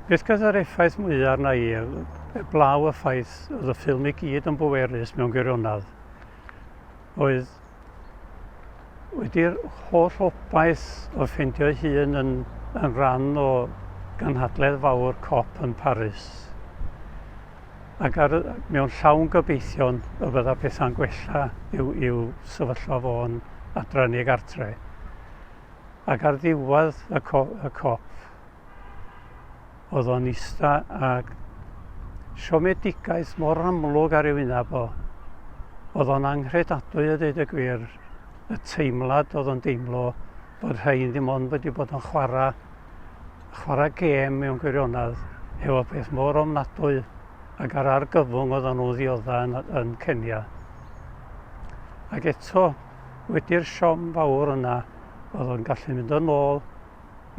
Beth gyda'r effaith mwyaf arna i eblaw y ffaith oedd y ffilm i gyd yn bwerus mewn gwirionedd oedd wedi'r holl obaith o ffeindio ei hun yn, yn rhan o ganhadledd fawr cop yn Paris ac ar, mewn llawn gobeithion y bydda pethau'n gwella i'w, i'w sefyllfa fo'n adran i gartre. Ac ar ddiwedd y, co y cop, oedd o'n ista ag siomedigaeth mor amlwg ar ei wyneb o. Oedd o'n anghredadwy a dweud y gwir, y teimlad oedd o'n deimlo bod rhain ddim ond wedi bod yn chwarae, chwarae gêm mewn gwirionedd efo peth mor ofnadwy ac ar argyfwng oedd o'n nhw ddioddau yn, yn Cenia. Ac eto, wedi'r siom fawr yna oedd o'n gallu mynd yn ôl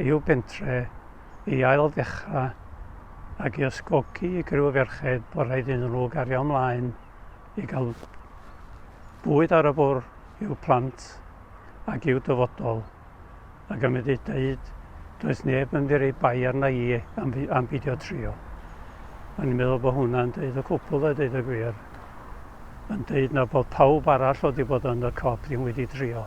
i'w bentre i ail ddechrau ac i ysgogi i griw ferched bod rhaid iddyn nhw gario ymlaen i gael bwyd ar y bwr' i'w plant ac i'w dyfodol. Ac am wedi dweud, does neb yn mynd i bai arna i am, am beidio trio. O'n i'n meddwl bod hwnna'n dweud y cwpl a dweud y gwir. Yn dweud na bod pawb arall oedd wedi bod yn y cop ddim wedi trio.